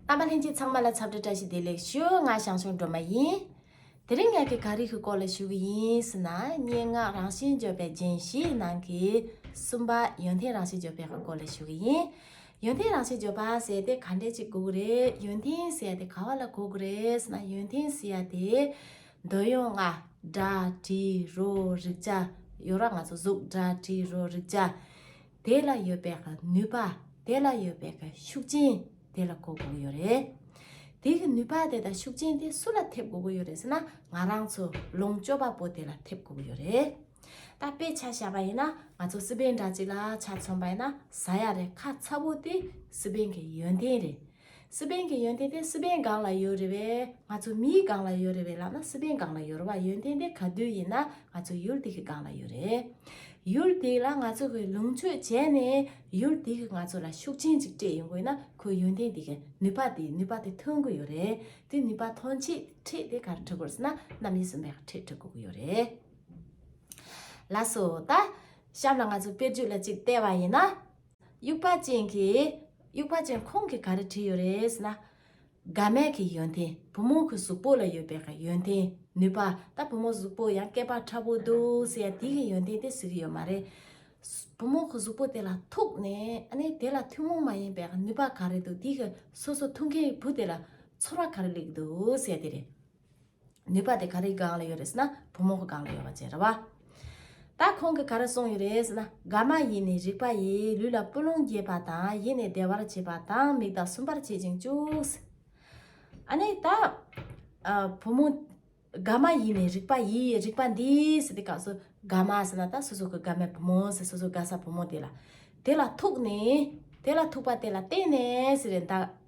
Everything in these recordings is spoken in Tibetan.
རྣམ་པ་ལྷན་ཅིག་ཚང་མ་ལ་ཚབ་དྲི་བཀྲ་ཤིས་བདེ་ལེགས་ཞུ་ང་ཞང་ཞུང་སྒྲོལ་མ་ཡིན། དེ་རིང་ངག་གི་ག་རིགས་ཀྱི་སྐོར་ལ་ཞུ་གི་ཡིན་ཟེར་ན་སྙན་ངག་རང་བཞིན་བརྗོད་པའི་རྒྱན་བཞིའི་ནང་གི་གསུམ་པ་ཡོན་ཏན་རང་བཞིན་བརྗོད་པའི་སྐོར་ལ་ཞུ་གི་ཡིན། ཡོན་ཏན་རང་བཞིན་བརྗོད་པ་ཟེར་ཏེ་ག་འདྲས་ཅིག་གོ་གི་རེད་ཡོན་ཏན་ཟེར་ཡ་དེ་ག་བ་ལ་གོ་གི་རེད་ཟེར་ན་ཡོན་ཏན་ཟེར་ཡ་དེ། འདོད་ཡོན་ལྔ། སྒྲ། དྲི། རོ། རེག་བྱ། ཡོད་ར་ང་ཚོ་གཟུགས་སྒྲ་དྲི་རོ་རེག་བྱ། དེ་ལ་ཡོད་པའི་ནུས་པ་དེ་ལ་ཡོད་པའི་ཤུགས་རྐྱེན་དེ་ལ་གོ་དགོས་ཀྱི་ཡོད་རེད། དེ་གི་ནུས་པ་དེ་དང་ཤུགས་རྐྱེན་དེ་སུ་ལ་ཐེབས་དགོས་ཀྱི་ཡོད་རེད་ཟེར་ན་ང་རང་ཚོ་ལོངས་སྤྱོད་པ་པོ་དེ་ལ་ཐེབས་དགོས་ཀྱི་ཡོད་རེད། ད་དཔེ་ཆ་བྱ་བ་ཡིན་ན་ང་ཚོ་སི་པན་འདྲ་གཅིག་ལ་ཆ་མཚོན་པ་ཡིན་ན་ཟ་ཡ་རེད་ཁ་ཚ་བོ་དེ་སི་པན་གྱི་ཡོན་ཏན་རེད། སི་པན་གྱི་ཡོན་ཏན་དེ་སི་པན་སྒང་ལ་ཡོད་རེད་བས་ང་ཚོ་མིའི་སྒང་ལ་ཡོད་རེད་བས་ལབ་ན་སི་པན་སྒང་ལ་ཡོད་རེད་བ་ཡོན་ཏན་དེ་ག་དུས་ཡིན་ན་ང་ཚོ་ཡུལ་དེ་གི་སྒང་ལ་ཡོད་རེད། ཡུལ་དེ་ལ་ང་ཚོ་གི་ལུང་ཆོས་བྱས་ནས་ཡུལ་དེ་གི་ང་ཚོ་ལ་ཤུགས་ཆེན་ཅིག་སྤྲད་ཡོང་དགོས་ན་ཁོའི་ཡོན་ཏན་དེ་གི་ནུས་པ་དེ་ནུས་པ་དེ་ཐོན་དགོས་ཡོད་རེད་དེ་ནུས་པ་ཐོན་ཆེད་ཁྲིད་དེ་ག་རེ་ཁྲིད་དགོས་ཟེར་ན་རྣམ་དབྱེ་གསུམ་པའི་ཁྲིད་ཁྲིད་དགོས་ཀྱི་ཡོད་རེད། ལ་སོ་ད་གཤམ་ལ་ང་ཚོ་དཔེར་བརྗོད་ལ་ཅིག་བལྟས་བ་ཡིན་ན། དབྱུག་པ་ཅན་གྱི། དབྱུག་པ་ཅན་ཁོང་གིས་ག་རེ་བྲིས་ཡོད་རེད་ཟེར་ན། དགའ་མལ་གྱི་ཡོན་ཏན་བུ་མོ་གི་གཟུགས་པོ་ལ་ཡོད་པའི་གི་ཡོན་ཏན་ནུས་པ་ད་བུ་མོ་གཟུགས་པོ་ཡང་སྐད་པ་ཁྲ་བོ་འདུག་ཟེར་ཡང་དེ་གི་ཡོན་ཏན་དེ་ཟེར་གི་ཡོད་མ་རེད། བུ་མོ་གི་གཟུགས་པོ་དེ་ལ་ཐུག་ནས་ཨ་ནི་དེ་ལ་ཐུན་མོང་མ་ཡིན་པའི་གི་ནུས་པ་ག་རེ་འདུག་དེ་གི་སོ་སོ་ཐུག་མཁན་གྱི་བུ་དེ་ལ་ཚོར་བ་ག་རེ་ལེགས་འདུག་ཟེར་དེ་རེད། ནུས་པ་དེ་ག་རེའི་སྒང་ལ་ཡོད་རེད་ཟེར་ན་བུ་མོ་གི་སྒང་ལ་ཡོད་པ་བཅས་རེད་བ། ད་ཁོང་གིས་ག་རེ་གསུངས་ཡོད་རེད་ཟེར་ན་དགའ་མ་ཡིན་ནི་རིག་པ་ཡིས་ལུས་ལ་སྤུ་ལོང་རྒྱས་པ་དང་ཡིད་ནི་བདེ་བར་བྱེད་པ་དང་མིག་དག་སུན་པར་བྱེད་ཅིང་བཅུག་ཟེར། ཨ་ནི་ད་བུ་མོ་དགའ་མ་ཡིན་ནི་རིག་པ་ཡིས་རིག་པ་འདིས་ཟེར་ཏེ་སྐབས་སུ་དགའ་མ་ཟེར་ན་ད་སོ་སོ་གི་དགའ་མའི་བུ་མོ་ཟེར་སོ་སོ་དགའ་ས་བུ་མོ་དེ་ལ་དེ་ལ་ཐུག་ནི་དེ་ལ་ཐུག་པ་དེ་ལ་བརྟེན་ནས་ཟེར་རེད་ད།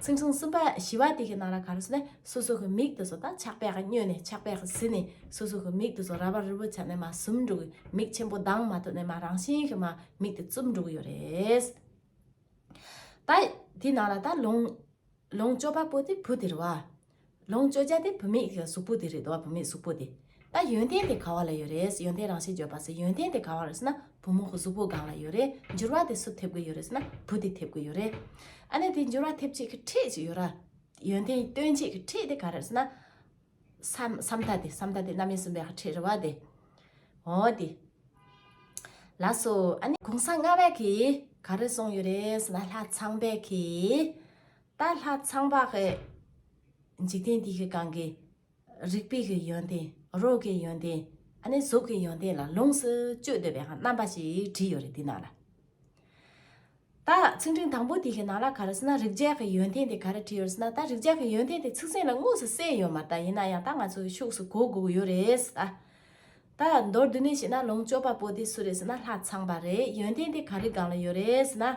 སེམས་བྱུང་གསུམ་པ་ཞི་བ་དེ་གའི་ནང་ལ་ག་རུ་སོ་ནི་སོ་སོ་གི་མིག་ཏུ་སོ་དང་ཆགས་པས་མྱོས་ནས་ཆགས་པས་ཟིན་ནས་སོ་སོ་གི་མིག་ཏུ་སོ་ར་བ་རི་བོ་ཆ་ནས་མ་ཟུམ་འགྲོ་གི་མིག་ཆེན་པོ་དྭངས་མ་ཐོབ་ནས་མ་རང་བཞིན་གྱི་མ་མིག་ཏུ་བཙུམ་འགྲོ་གི་ཡོད་རེད། ད་དེའི་ནང་ལ་ད་ལོངས་སྤྱོད་པ་པོ་དེ་བུ་དེར་བ། ལོངས་སྤྱོད་བྱ་དེ་བུད་མེད་ཀྱི་གཟུགས་པོ་དེ་རེད་དོ་བུད་མེད་གཟུགས་པོ་དེ། ད་ཡོན་ཏན་དེ་ག་བ་ལ་ཡོད་རེད་ཡོན་ཏན་རང་བཞིན་བརྗོད་པ་ཟེར་ཡོན་ཏན་དེ་ག་བ་རེད་ཟེར་ན་བུ་མོ་གཟུགས་པོ་གང་ལ་ཡོད་རེད་འགྱུར་བ་དེ་སུ་ཐེབས་ཀྱི་ཡོད་རེད་ཟེར་ན་བུ་དེ་ཐེབས་ཀྱི་ཡོད་རེད། ཨ་ནེ་དེ་འགྱུར་བ་ཐེབས་བྱེད་ཀྱི་ཁྲིད་ཅིག་ཡོད་ར། ཡོན་ཏན་སྟོན་བྱེད་ཀྱི་ཁྲིད་དེ་ག་རེད་ཟེར་ན། བསམ་བཏགས་དེ་བསམ་བཏགས་དེ་རྣམ་དབྱེ་གསུམ་པའི་ཁྲིད་རེད་བ་དེ། འོ་དེ། ལ་སོ་ཨ་ནེ་གུང་ས་ལྔ་བད་ཀྱིས་ག་རེ་གསུངས་ཡོད་རེད་ཟེར་ན་ལྷ་ཚངས་བད་ཀྱིས། ད་ལྷ་ཚངས་པ་གི་འཇིག་རྟེན་འདི་གི་གང་གི་རིག་པའི་གི་ཡོན་ཏན་རོ་གི་ཡོན་ཏན་ཨ་ནི་གཟུགས་ཀྱི་ཡོན་ཏན་ལ་ལོངས་སུ་སྤྱོད་འདོད་པའི་རྣམ་པ་ཞིག་བྲིས་ཡོད་རེད་འདི་ནང་ལ། ད་ཚིག་འབྲིང་དང་པོ་འདི་གི་ནང་ལ་ག་རེ་ཟེར་ན་རིག་བྱེད་ཀྱི་ཡོན་ཏན་དེ་ག་རེ་བྲིས་ཡོད་ཟེར་ན་ད་རིག་བྱེད་ཀྱི་ཡོན་ཏན་དེ་ཚིག་ཟིན་ལ་དངོས་སུ་གསལ་ཡོད་མ་ད་ཡིན་ན་ཡང་ད་ང་ཚོས་ཤུགས་སུ་གོ་དགོས་ཀྱི་ཡོད་རེད་ད། ད་མདོར་བསྡུས་ནས་བཤད་ན་ལོངས་སྤྱོད་པ་པོ་དེ་སུ་རེད་ཟེར་ན་ལྷ་ཚངས་པ་རེད་ཡོན་ཏན་དེ་ག་རེ་གང་ལ་ཡོད་རེད་ཟེར་ན།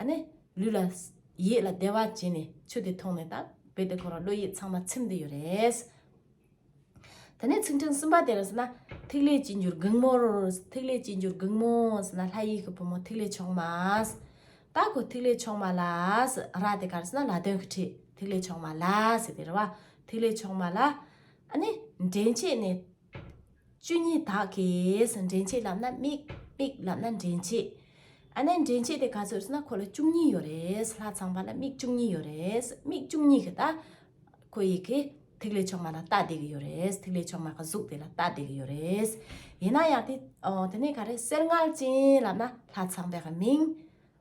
ཨ་ནི། ལུས་ལ། ཡིད་ལ་བདེ་བ་སྐྱེས་ནས་ཆོས་དེ་མཐོང་ནས་དང་བོ་དེ་ཁོ་རང་བློ་ཡིད་ཚང་མ་ཚིམ་དུ་ཡོད་རེད། དེ་ནས་ཚིག་འཕྲེང་གསུམ་པ་དེར་ཟེར་ན། ཐིག་ལེ་གཅིག་འགྱུར་གུང་མོར། ཐིག་ལེ་གཅིག་འགྱུར་གུང་མོ་ཟེར་ན་ལྷ་ཡིག་གི་བུ་མོ་ཐིག་ལེ་མཆོག་མ། ད་ཁོ་ཐིག་ལེ་མཆོག་མ་ལ། ར་དེ་གར་ཟེར་ན་ལ་དོན་གྱི་ཁྲིད་ཐིག་ལེ་མཆོག་མ་ལ་ཟེར་དེ་རེད་བ། ཐིག་ལེ་མཆོག་མ་ལ། ཨ་ནི། འདྲེན་བྱེད་ནི། བཅུ་གཉིས་དག་གིས་འདྲེན་བྱེད་ལབ་ན་དམིགས་དམིགས་ལབ་ན་འདྲེན་བྱེད་ཨ་ནེ་འདྲེན་བྱེད་དེ་ག་ཚོད་ཟེར་ན་ཁོ་ལ་བཅུ་གཉིས་ཡོད་རེད་ལྷ་ཚངས་པ་ལ་དམིགས་བཅུ་གཉིས་ཡོད་རེད་དམིགས་བཅུ་གཉིས་ཀྱི་ད་ཁོ་ཡི་གེ་ཐིག་ལེ་མཆོག་མ་ལ་ལྟ་བསྡད་ཀྱི་ཡོད་རེད་ཐིག་ལེ་མཆོག་མ་གི་གཟུགས་དེ་ལ་ལྟ་བསྡད་ཀྱི་ཡོད་རེད་ཡིན་ན་ཡང་དེ་ནས་ག་རེ་གསེར་མངལ་ཅན་ལབ་ན་ལྷ་ཚངས་པའི་མིང།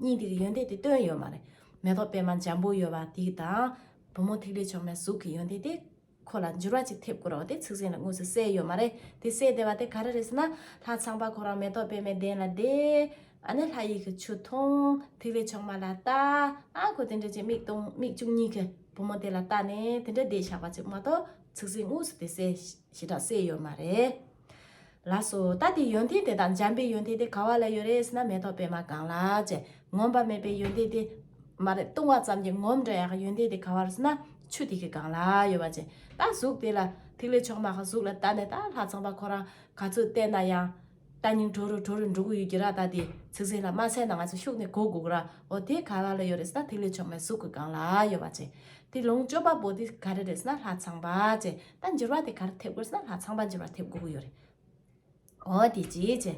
གཉིས་འདིར་ཡོན་ཏན་དེ་སྟོན་ཡོད་མ་རེད། མེ་ཏོག་པད་མ་འཇམ་པོ་ཡོད་པ་དེ་དང། བུ་མོ་ཐིག་ལེ་མཆོག་མའི་གཟུགས་ཀྱི་ཡོན་ཏན་དེ། ཁོ་ལ་འགྱུར་བ་ཅིག་ཐེབས་དགོས་རོགས་དེ་ཚིག་ཟིན་ལ་དངོས་སུ་གསལ་ཡོད་མ་རེད། དེ་གསལ་བདེ་བ་དེ་ག་རེ་རེད་ཟེར་ན། ལྷ་ཚངས་པ་ཁོ་རང་མེ་ཏོག་པད་མའི་གདན་ལ་བསྡད། ཨ་ནི་ལྷ་ཡིག་གི་ཆུ་འཐུང། ཐིག་ལེ་མཆོག་མ་ལ་བལྟ། ཨ་ཁོ་དེ་འདྲ་ཅིག་མིག་སྟོང་མིག་བཅུ་གཉིས་ཀྱིས་བུ་མོ་དེ་ལ་བལྟ་ནས་དེ་འདྲ་བསྡད་བཞག་པ་ཅིག་མ་གཏོགས་ཚིག་ཟིན་དངོས་སུ་དེ་གསལ་ཞེ་དྲག་གསལ་ཡོད་མ་རེད། ལ་སོ། ད་དེ་ཡོན་ཏན་དེ་དང་འཇམ་པའི་ཡོན་ཏན་དེ་ག་བ་ལ་ཡོད་རེད་ཟེར་ན་མེ་ཏོག་པད་མ་གང་ལགས་ཀྱི་ངོམས་པ་མེད་པའི་ཡོན་ཏན་དེ། མ་རེད་བཏུང་བ་ཙམ་གྱི་ངོམས་འདྲ་ཡག་གི་ཡོན་ཏན་དེ་ག་བར་ཟེར་ན་ཆུ་ཐིགས་ཀྱི་གང་ལགས་ཡོད་པ་ཅན་ད་གཟུགས་དེ་ལ་ཐིག་ལེ་མཆོག་མ་ག་གཟུགས་ལ་བལྟ་ནས་ད་ལྷ་ཚངས་པ་ཁོ་རང་ག་ཚོད་བལྟས་ན་ཡང། ད་སྙིང་གྲོ་རུ་གྲོ་རུ་འགྲོ་གི་ཡོད་ཀྱི་ར་ད་དེ་ཚིག་ཟིན་ལ་མ་ཟས་ན་ང་ཚོ་ཤུགས་ནས་གོ་དགོས་ར་འོ་དེ་ག་བ་ལ་ཡོད་རེད་ཟེར་ན་ཐིག་ལེ་མཆོག་མའི་གཟུགས་ཀྱི་གང་ལགས་ཡོད་པ་ཅན་དེ་ལོངས་སྤྱོད་པ་པོ་དེ་ག་རེ་རེད་ཟེར་ན་ལྷ་ཚངས་པ་ཅན་ད་འགྱུར་བ་དེ་གར་ཐེབས་དགོས་ཟེར་ན་ལྷ་ཚངས་པ་འགྱུར་བ་ཐེབས་དགོས་ཀྱི་ཡོད་རེད། འོ་དེ་ཅི་བྱས།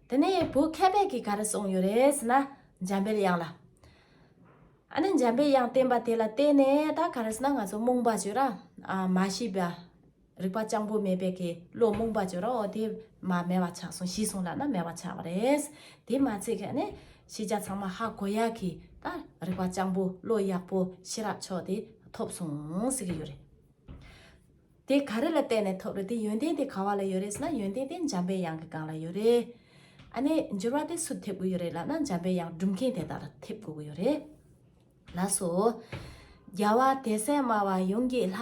དེ་ནས་བོད་མཁས་པའི་གིས་ག་རེ་གསུངས་ཡོད་རེད་ཟེར་ན་འཇམ་པའི་དབྱངས་ལ། ཨ་ནི་འཇམ་པའི་དབྱངས་བསྟན་པ་དེ་ལ་བརྟེན་ནས་ད་ག་རེ་ཟེར་ན་ང་ཚོ་རྨོངས་པ་བྱོས་ར། མ་ཤེས་པ། རིག་པ་སྤྱང་པོ་མེད་པའི་གིས་བློ་རྨོངས་པ་བྱོས་ར་འོ་དེ་མ་མེད་པ་ཆགས་སོང་ཤི་སོང་ལ་ན་མེད་པ་ཆགས་པ་རེད། དེ་མ་ཚད་ཁ་ནི། ཤེས་བྱ་ཚང་མ་ཧ་གོ་ཡག་གི་ད་རིག་པ་སྤྱང་པོ་བློ་ཡག་པོ་ཤེས་རབ་མཆོག་དེ་ཐོབ་སོང་ཟེར་གྱི་ཡོད་རེད། དེ་ག་རེ་ལ་བརྟེན་ནས་ཐོབ་རེད་དེ་ཡོན་ཏན་དེ་ག་བ་ལ་ཡོད་རེད་ཟེར་ན་ཡོན་ཏན་དེ་འཇམ་པའི་དབྱངས་ཀྱི་སྒང་ལ་ཡོད་རེད། ཨ་ནས་འགྱུར་བ་དེ་སུ་ཐེབས་དགོས་ཡོད་རེད་ལབ་ན་འཇམ་པའི་དབྱངས་སྒྲུབ་མཁན་དེ་དག་ལ་ཐེབས་དགོས་ཀྱི་ཡོད་རེད། ལ་སོགས། རྒྱལ་བ་དད་སེམས་སྨྲ་བ་ཡོངས་ཀྱི་ལྷ།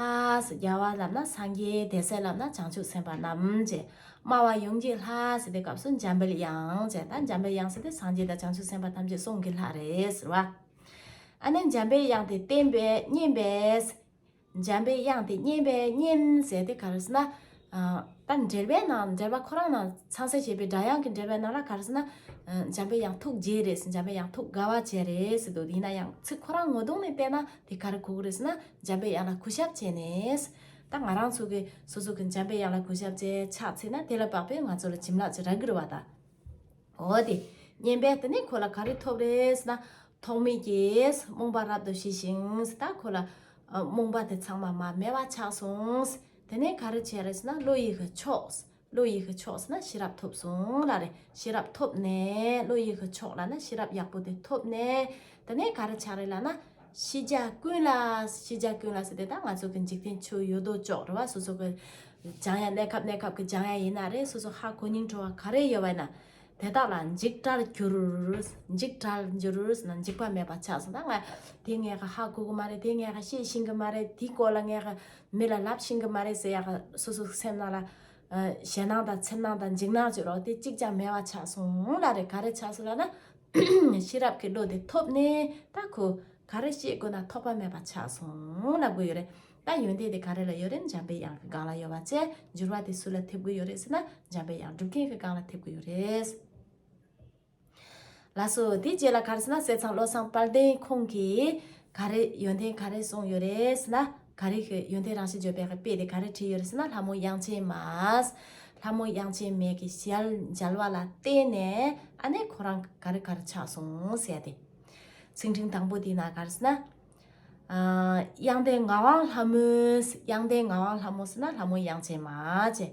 རྒྱལ་བ་ལབ་ན་སངས་རྒྱས་དད་སེམས་ལབ་ན་བྱང་ཆུབ་སེམས་དཔའ་རྣམས། ཅེས་སྨྲ་བ་ཡོངས་ཀྱི་ལྷ་ཟེར་བའི་སྐབས་སུ་འཇམ་དཔལ་དབྱངས་ཅེས་དང་འཇམ་དཔལ་དབྱངས་ཟེར་དེ་སངས་རྒྱས་དང་བྱང་ཆུབ་སེམས་དཔའ་ཐམས་ཅད་གསུང་གི་ལྷ་རེད་ཟེར་བ། ཨ་ནི་འཇམ་དཔལ་དབྱངས་དེ་བསྟན་པས་བསྙེན་པས། འཇམ་པའི་དབྱངས་དེ་སྙན་པའི་སྙན་ཟེར་ཏེ་ག་རེ་ཟེར་ན། ད་འགྲེལ་པའི་ནང་འགྲེལ་པ་ཁོ་རང་ནང་ཚང་གསལ་བྱེད་པའི་སྒྲ་དབྱངས་ཀྱི་འགྲེལ་པའི་ནང་ལ་ག་རེ་ཟེར་ན། འཇམ་པའི་དབྱངས་ཐུགས་རྗེ་རེད་ཟེར་འཇམ་པའི་དབྱངས་ཐུགས་དགའ་བ་བྱེད་རེད་ཟེར་འདུག་ཡིན་ན་ཡང་ཚིག་ཁོ་རང་ངོ་གདོང་ནས་བལྟས་ན་དེ་ག་རེ་གོ་གི་རེད་ཟེར་ན་འཇམ་པའི་དབྱངས་ལ་གུས་ཞབས་བྱས་ནས། ད་ང་རང་ཚོ་གིས་སོ་སོ་གིས་འཇམ་པའི་དབྱངས་ལ་གུས་ཞབས་བྱས་ཆགས་ཚེ་ན་དེ་ལ་དཔག་པས་ང་ཚོ་ལ་བྱིན་རླབས་ཀྱི་རྭ་གུར་བ་དང། འོ་དེ་སྙན་པའི་དེ་ནས་ཁོ་ལ་ག་རེ་ཐོབ་རེད་ན། ཐོགས་མེད་ཀྱིས་རྨོངས་པ་རབ་ཏུ་ཞི་ཞིང་ད་ཁོ་ལ། རྨོངས་པ་དེ་ཚང་མ་མ་སྨད་པ་ཆགས་སོང། དེ་ནས་ག་རེ་བྱས་རེད་ན་བློ་ཡིད་ཀྱི་ཕྱོགས། བློ་ཡིད་ཀྱི་ཕྱོགས་ན་ཤེས་རབ་ཐོབ་སོང་ལ་རེ་ཤེས་རབ་ཐོབ་ནས་བློ་ཡིད་ཀྱི་ཕྱོགས་ལ་ན་ཤེས་རབ་ཡག་པོ་དེ་ཐོབ་ནས་དེ་ནས་ག་རེ་བྱ་རེད་ལ་ན། ཤེས་བྱ་ཀུན་ལ། ཤེས་བྱ་ཀུན་ལ་སོགས་དེ་དག་ང་ཚོ་གི་འཇིག་རྟེན་ཆུ་ཡོད་རྡོ་ཅོག་རེད་བ་སོ་སོ་གི་སྦྱང་ཡ་གནས་སྐབས་གནས་སྐབས་ཀྱི་སྦྱང་ཡ་ཡིན་ན་རེད་སོ་སོ་ཧ་གོ་སྙིང་བྲོ་བ་ག་རེ་ཡོད་བ་ཡིན་ན་དེ་དག་ལ་འཇིག་གྲར་གྱུར། འཇིག་གྲར་འགྱུར་ན་འཇིག་པ་མེད་པ་ཆགས་སོང་ད་ང་དེ་ངས་ཧ་གོ་གི་མ་རེད་དེ་ངས་ཤེས་ཤིང་གི་མ་རེད་དེའི་སྐོར་ལ་ངས་ཧ་མི་ལ་ལབ་ཤིང་གི་མ་རེད་ཟེར་ཡ་ག་སོ་སོ་སེམས་ནང་ལ་ཞེད་སྣང་དང་འཚེར་སྣང་དང་འཇིགས་སྣང་བཅུག་རོགས་དེ་གཅིག་ཀྱང་མེད་བ་ཆགས་སོང་ལ་རེད་ག་རེ་ཆགས་སོང་ལ་ན་ཤེས་རབ་ཀྱི་བློ་དེ་ཐོབ་ནས་ད་ཁོ་ག་རེ་བཤད་དགོས་ན་ཐོགས་པ་མེད་པ་ཆགས་སོང་ལབ་དགོས་ཡོད་རེད་ད་ཡོན་ཏན་དེ་ག་རེ་ལ་ཡོད་རེད་འཇམ་པའི་དབྱངས་ཀྱི་སྒང་ལ་ཡོད་པ་བཅས་འགྱུར་བ་དེ་སུ་ལ་ཐེབས་དགོས་ཡོད་རེད་ཟེར་ན་འཇམ་པའི་དབྱངས་སྒྲུབ་མཁན་གྱི་སྒང་ལ་ཐེབས་དགོས་ཡོད་རེད། ལགས་སོ་དེའི་རྗེས་ལ་ག་རེ་ཟེར་ན་བསེ་ཚང་བློ་བཟང་དཔལ་ལྡན་ཁོང་གིས་ག་རེ་ཡོན་ཏན་ག་རེ་གསུངས་ཡོད་རེད་ཟེར་ན། ག་རེ་ཤི་ཡོན་ཏན་རང་བཞིན་བརྗོད་པའི་དཔེ་དེ་ག་རེ་བྲིས་ཡོད་རེད་ཟེར་ན་ལྷ་མོ་དབྱངས་ཅན་མ། ལྷ་མོ་དབྱངས་ཅན་མས་ཀྱི་ཞལ་མཇལ་བ་ལ་བརྟེན་ནས་ཨ་ནེ་ཁོ་རང་ག་རེ་ག་རེ་ཆགས་སོང་ཟེར་ཏེ། ཚིག་འབྲིང་དང་པོ་དེ་ན་ག་རེ་ཟེར་ན། དབྱངས་ལྡན་ངག་དབང་ལྷ་མོས་དབྱངས་ལྡན་ངག་དབང་ལྷ་མོ་ཟེར་ན་ལྷ་མོ་དབྱངས་ཅན་མ་ཅེས།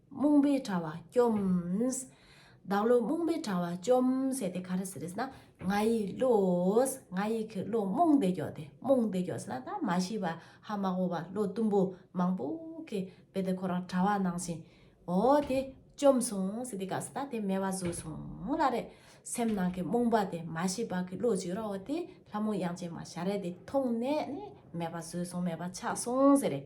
རྨོངས་པའི་དྲ་བ་བཅོམས། བདག་བློ་རྨོངས་པའི་དྲ་བ་བཅོམས་ཟེར་ཏེ་ག་རེ་ཟེར་རེས་ན་ང་ཡི་བློ། ང་ཡི་གི་བློ་རྨོངས་ཏེ་འགྱོགས་ཏེ་རྨོངས་ཏེ་འགྱོགས་ཟེར་ན་ད་མ་ཤི་བ་ཧ་མ་གོ་བ་ལོ་གཏུམ་པོ་མང་པོ་གིས་རྦད་དེ་ཁོ་རང་དྲ་བ་ནང་བཞིན་འོ་དེ་བཅོམས་སོང་ཟེར་ཏེ་ག་ཟེར་ན་དེ་མེ་བ་བཟོས་སོང་ལ་རེད། སེམས་ནང་གི་རྨོངས་པ་དེ་མ་ཤི་བ་གི་བློ་བཅོས་ར་འོ་དེ་ལྷ་མོ་དབྱངས་ཅན་མ་ཞལ་རས་དེ་མཐོང་ནས་ནི་མེ་བ་བཟོས་སོང་མེ་བ་ཆགས་སོང་ཟེར་རེད།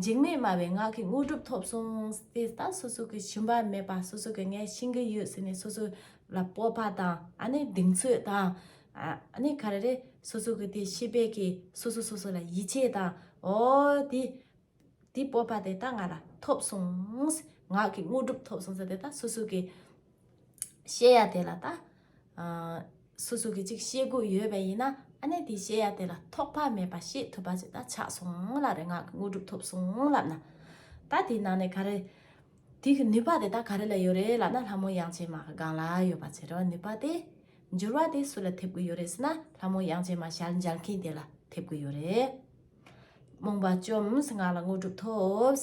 འཇིགས་མེད་སྨྲ་བའི་ངག་གི་དངོས་གྲུབ་ཐོབ་གསུངས། དེ་ལྟ་སོ་སོ་གི་བྱིན་པ་མེད་པ་སོ་སོ་གི་ངས་བྱིན་གྱི་ཡོད་ཟེར་ནས་སོ་སོ་ལ་སྤོབས་པ་དང་ཨ་ནི་གདེང་ཚོད་དང། ཨ་ནི་ག་རེ་རེད་སོ་སོ་གི་དེ་ཤེས་པས་ཀྱི་སོ་སོ་སོ་སོ་ལ་ཡིད་ཆེས་དང་ཨོ་དེ། དེ་སྤོབས་པ་དེ་ལྟ་ང་ལ་ཐོབ་གསུངས། ངག་གི་དངོས་གྲུབ་ཐོབ་གསུངས་ཟེར་དེ་ལྟ་སོ་སོ་གི། བཤད་ཡ་དེ་ལ་ད་སུ་སུ་གི་ཅིག་བཤད་དགོས་ཡོད་པ་ཡིན་ན་ཨ་ནེ་དེས་བཤད་ཡ་དེ་ལ་ཐོག་ཕ་མེད་པ་བཤད་ཐུབ་པ་ཅིག་ད་ཆགས་སོང་ལབ་རེ་ངག་གི་དངོས་གྲུབ་ཐོབ་སོང་ལབ་ན་ད་དེའི་ནང་ནས་ག་རེ་དེ་གི་ནུས་པ་དེ་ད་ག་རེ་ལ་ཡོད་རེ་ལབ་ན་ལྷ་མོ་དབྱངས་ཅན་མ་གི་སྒང་ལ་ཡོད་པ་ཚེ་རིང་ནུས་པ་དེ་འགྱུར་བ་དེ་སུ་ལ་ཐེབས་དགོས་ཡོད་རེ་ཟེར་ན་ལྷ་མོ་དབྱངས་ཅན་མ་ཞལ་འཇལ་མཁན་དེ་ལ་ཐེབས་དགོས་ཡོད་རེད་རྨོངས་པ་བཅོམས་ངག་ལ་དངོས་གྲུབ་ཐོབས།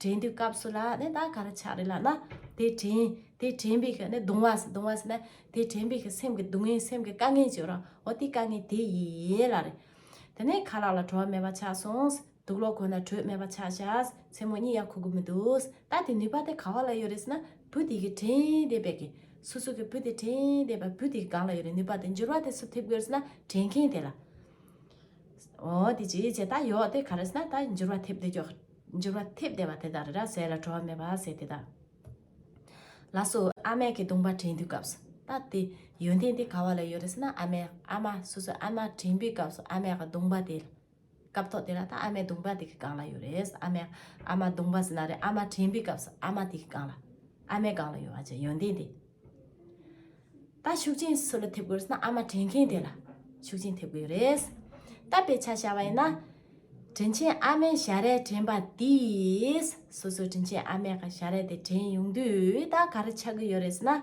དྲན་དུས་སྐབས་སུ་ལ་ནི་ད་ག་རུ་ཆགས་རེ་ལགས་ན་དེ་དྲན་དེ་དྲན་པའི་ནི་གདུང་བ་གདུང་བ་ཟེར་ན་དེ་དྲན་པའི་སེམས་ཀྱི་སྡུག་བསྔལ་སེམས་ཀྱི་དཀའ་ངལ་བརྗོད་རོགས་འོ་དེ་དཀའ་ངལ་དེ་ཡིན་ལ་རེ་དེ་ནས་ཁ་ལག་ལ་བྲོ་བ་མེད་པ་ཆགས་སོང་དུག་གློག་ཁོ་ན་དྲོད་མེད་པ་ཆགས་བྱས་མཚན་མོ་གཉིད་ཡ་ཁུག་གི་མི་འདུག་ད་དེ་ནུས་པ་དེ་ག་བ་ལ་ཡོད་རེ་ཟེར་ན་བུ་དེ་གི་དྲན་བསྡད་པའི་གི་སུ་སུ་གི་བུ་དེ་དྲན་བསྡད་པ་བུ་དེ་གང་ལ་ཡོད་རེ་ནུས་པ་དེ་འགྱུར་བ་དེ་སུ་ཐེབས་དགོས་རེ་ཟེར་ན་དྲན་མཁན་དེ་ལ་འོ་དེ་ཅི་བྱས་ད་ཡོད་དེ་ག་རེ་ཟེར་ན་ད་འགྱུར་བ་ཐེབས་བསྡད་རྒྱུ་འགྱུར་བ་ཐེབས་བདེ་བ་དེ་དག་རེ་ར་ཟས་ལ་བྲོ་བ་མེད་པ་ཟས་དེ་དག་ལ་སོ། ཨ་མས་ཁྱི་གདུང་པ་དྲན་དུས་སྐབས་སུ་ད་དེ་ཡོན་ཏན་དེ་ག་བ་ལ་ཡོད་རེད་ཟེར་ན་ཨ་མས་ཨ་མ་སོ་སོའི་ཨ་མ་དྲན་པའི་སྐབས་སུ་ཨ་མས་གདུང་པ་དེ་སྐབས་ཐོག་དེ་ལ་ད་ཨ་མའི་གདུང་པ་དེ་གི་སྒང་ལ་ཡོད་རེད་ཨ་མས་ཨ་མ་གདུང་པ་ཟེར་ན་རེད་ཨ་མ་དྲན་པའི་སྐབས་སུ་ཨ་མ་དེ་གི་སྒང་ལ་ཨ་མའི་སྒང་ལ་ཡོད་བ་ཅི་ཡོན་ཏན་དེ། ད་ཤུགས་ཆེན་སུ་ལ་ཐེབས་དགོས་རེད་ན་ཨ་མ་དྲིན་མཁན་དེ་ལ་ཤུགས་ཆེན་ཐེབས་དགོས་རེད། ད་དཔེ་ཆ་བྱ་བ་ཡིན་ན། དྲིན་ཆེན་ཨ་མའི་ཞལ་རས་དྲན་པ་དེས་སོ་སོའི་དྲིན་ཆེན་ཨ་མའི་ཞལ་རས་དེ་དྲན་ཡོང་དུས་ད་ག་རེ་ཆགས་ཀྱི་ཡོད་རེད་ཟེར་ན།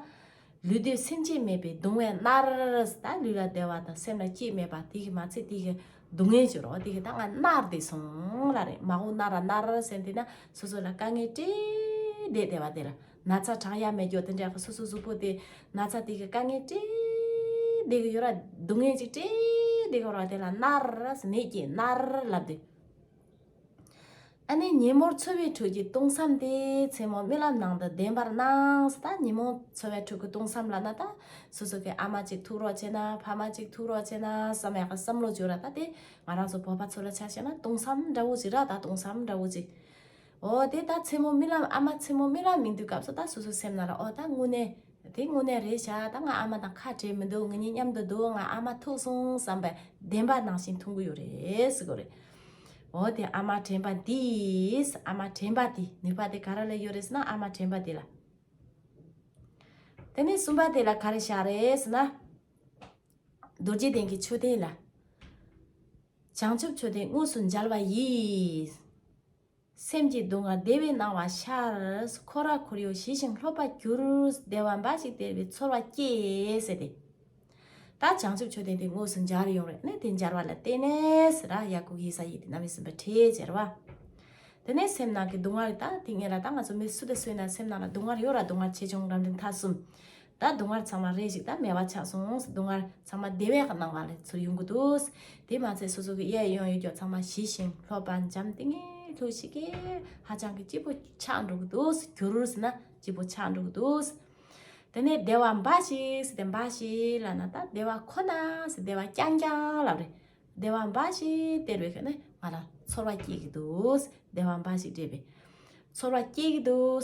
ལུས་སྡོད་སེམས་སྐྱེད་མེད་པའི་སྡུག་བསྔལ་མནར། ད་ལུས་ལ་བདེ་བ་དང་སེམས་ལ་སྐྱིད་མེད་པ་དེ་གི་མ་ཚད་དེ་གི་སྡུག་བསྔལ་གྱི་རོ་དེ་གི་ད་ང་མནར་བསྡད་སོང་ལ་རེད་མ་འོངས་མནར་ར་མནར་ར་ཟེར་ནས་དེ་ན་སོ་སོ་ལ་དཀའ་ངལ་སྤྲད་བསྡད་བསྡད་པ་དེ་ལ། ན་ཚ་གྲང་ཡ་མེད་མགྱོགས་དེ་འདྲ་གི་སོ་སོའི་གཟུགས་པོ་དེ་ན་ཚ་དེ་གི་དཀའ་ངལ་བྲེལ་བདེ་གི་ཡོད་ར་སྡུག་བསྔལ་ཅིག་བྲེལ་བདེ་གི་ར་དེ་ལ་མནར་ར་མེད་ཀྱིས་མནར་ར་ལབ་དེ། ཨ་ནེ་ཉིན་མོར་འཚོ་བའི་ཁྲོད་ཀྱི་སྟོང་བསམ་དེ་མཚན་མོ་རྨི་ལམ་ནང་དུ་བདེན་པར་སྣང་སྟ་ཉིན་མོ་འཚོ་བའི་ཁྲོད་ཀྱི་སྟོང་བསམ་ལ་ན་ད་སོ་སོ་གི་ཨ་མ་གཅིག་ཐུག་རོགས་བྱེད་ན་ཕ་མ་གཅིག་ཐུག་རོགས་བྱེད་ན་བསམ་ཡག་གི་བསམ་བློ་བཅོས་ར་ད་དེ་ང་རང་ཚོ་བོད་པ་ཚོ་ལ་ཆ་བྱས་ན་སྟོང་བསམ་འདྲ་བོ་ཅིག་ར་ད་སྟོང་བསམ་འདྲ་བོ་ཅིག། འོ་དེ་ད་མཚན་མོ་རྨི་ལམ་ཨ་མ་མཚན་མོ་རྨི་ལམ་མི་འདུག་སྐབས་སུ་ད་སོ་སོའི་སེམས་ན་ལ་འོ་ད་དངོས་གནས། དེ་དངོས་གནས་རེད་བྱ་ད་ང་ཨ་མ་དང་ཁ་བྲལ་མི་འདུག་ང་གཉིས་མཉམ་དུ་འདུག་ང་ཨ་མ་ཐུག་སོང་བསམ་པའི་བདེན་པ་ནང་བཞིན་འཐུང་གི་ཡོད་རེད་ཟེར་གི་རེད། འོ་དེ་ཨ་མ་དྲན་པ་འདིས་ཨ་མ་དྲན་པ་དེ་ནུས་པ་དེ་ག་ར་ལ་ཡོད་རེད་ཟེར་ན་ཨ་མ་དྲན་པ་དེ་ལ། དེ་ནས་གསུམ་པ་དེ་ལ་ག་རེ་བྱ་རེད་ཟེར་ན། རྡོ་རྗེ་གདན་གྱི་མཆོད་རྟེན་ལ། བྱང་ཆུབ་མཆོད་རྟེན་དངོས་སུ་མཇལ་བ་ཡིས། སེམས་ཀྱི་སྡུག་བསྔལ་བདེ་བའི་སྣང་བ་ཤར། འཁོར་བར་ཁོར་ཡུག་ཞི་ཞིང་ལྷོད་པར་གྱུར། བདེ་བ་འབའ་ཞིག་སྟེར་བའི་ཚོར་བ་སྐྱེས། ཟེར་ཏེ། ད་བྱང་ཆུབ་མཆོད་རྟེན་དེ་དངོས་སུ་མཇལ་ཡོང་རེ་ནས་དེ་མཇལ་བ་ལ་བརྟེན་ནས། ར་ཡ་ཀུག་ཧི་ས་ཡིད་བརྣབ་མི་སྲིན་པའི་ཁྲེས་བཅེར་བ། དེ་ནས་སེམས་ནང་གི་སྡུག་བསྔལ་ད་དེ་ངེད་ལ་ད་ང་ཚོ་མི་སུ་དེ་སུའི་ནང་སེམས་ནང་ལ་སྡུག་བསྔལ་ཡོད་ར་སྡུག་བསྔལ་ཆེ་ཆུང་རང་འདྲའི་མཐའ་གསུམ། ད་སྡུག་བསྔལ་ཚང་མ་རེ་ཞིག་ད་མེད་པ་ཆགས་སོང་སྡུག་བསྔལ་ཚང་མ་བདེ་བའི་སྣང་བ་ལས་ཚུར་ཡོང་གི་འདུག་དེས་མ་ཚད་སོ་སོ་གི་གཡས་གཡོན་ཡུལ་སྐྱོབ་ཚང་མ་ཞི་ཞིང་ལྷོད་པ་འཇམ་ཏིང་ངེ་ལྷོད་ཤིག་གེ་ཧ་ཅང་གི་སྐྱིད་པོ་ཆགས་འགྲོ་གི་འདུག་གུ་རུ་ཟི་ན་སྐྱིད་པོ་ཆགས་འགྲོ་གི་འདུག་དེ་ནས་བདེ་བ་འབའ་ཞིག་ཟེར་ཏེ་འབའ་ཞིག་ལ་ན་ད་བདེ་བ་ཁོ་ན་ཟེར་བདེ་བ་རྐྱང་རྐྱང་ལབ་རེ་བདེ་བ་འབའ་ཞིག་སྟེར་བའི་ནི་ང་ལ་ཚོར་བ་སྐྱེས་ཀྱི་འདུག་བདེ་བ་འབའ་ཞིག་སྤྲད་པས་ཚོར་བ་སྐྱེས་ཀྱི་འདུག་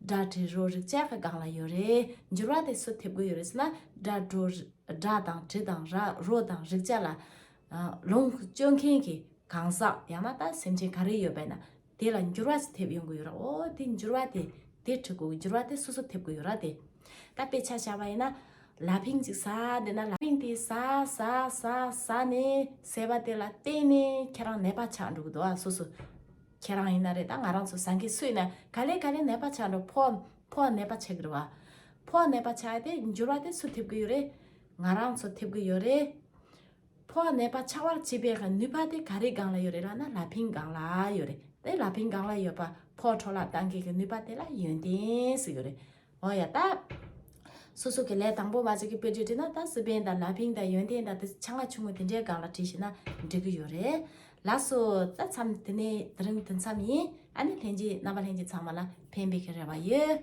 སྒྲ་དྲི་རོ་རེག་བྱ་ཁ་གང་ལ་ཡོད་རེད། འགྱུར་བ་དེ་སུ་ཐེབས་དགོས་ཡོད་རེད་ཟེར་ན། སྒྲ་དྲོ། སྒྲ་དང་དྲི་དང་ར་རོ་དང་རེག་བྱ་ལ། ལོངས་སྤྱོད་མཁན་གྱི་གང་ཟག་ཡང་ན་ད་སེམས་ཅན་ག་རེ་ཡོད་པས་ན། དེ་ལ་འགྱུར་བ་ཞིག་ཐེབས་ཡོང་གི་ཡོད་ར་ཨོ་དེ་འགྱུར་བ་དེ་དེ་འཁྲུལ་དགོས་འགྱུར་བ་དེ་སོ་སོ་ཐེབས་དགོས་ཡོད་ར་དེ། ད་དཔེ་ཆ་བྱ་བ་ཡིན་ན། ལ་ཕིང་ཅིག་ཟ་འདོད་ན་ལ་ཕིང་དེ་ཟ་ཟ་ཟ་ཟ་ནས་ཟས་པ་དེ་ལ་བརྟེན་ནས་ཁྱེད་རང་ནད་པ་ཆགས་འགྲོ་གི་འདུག་ཨ་སོ་སོ། ཁྱེད་རང་ཡིན་ན་རེད་ད་ང་རང་ཚོ་ཟ་མཁན་སུ་ཡིན་ན་ག་ལེ་ག་ལེ་ནད་པ་ཆགས་འགྲོ་ཕོ་བ་ཕོ་བ་ནད་པ་ཆགས་གི་རེད་བ། ཕོ་བ་ནད་པ་ཆགས་ཡོད་དེ་འགྱུར་བ་དེ་སུ་ཐེབས་གི་ཡོད་རེད། ང་རང་ཚོ་ཐེབས་གི་ཡོད་རེད། ཕོ་བ་ནད་པ་ཆགས་བར་བྱེད་པའི་ནུས་པ་དེ་ག་རེའི་སྒང་ལ་ཡོད་རེད་ལ་ན་ལ་ཕིང་སྒང་ལ་ཡོད་རེད་དེ་ལ་ཕིང་སྒང་ལ་ཡོད་པ་ཕོ་བྲོ་ལ་གཏང་མཁན་གྱི་ནུས་པ་དེ་ལ་ཡོན་ཏན་སུ་ཡོད་རེད་འོ་ཡ་ད། སོ་སོ་གི་ལས་དང་པོ་བ་ཅིག་གི་དཔེ་བརྗོད་བྲིས་ན་ད་སི་པན་དང་ལ་ཕིང་དང་ཡོན་ཏན་དང་དེ་ཆ་ང་ཆུང་ངུ་དེ་འདྲའི་སྒང་ལ་བྲིས་ཤེས་ན་འགྲིག་གི་ཡོད་རེད། ལགས་སོ། ད་མཚམས་དེ་ནས་དེ་རིང་དེ་མཚམས་ཡིན། ཨ་ནི་ལྷན་རྒྱས་རྣམ་པ་ལྷན་རྒྱས་ཚང་མ་ལ་ཕན་པའི་གི་རེ་བ་ཡོད།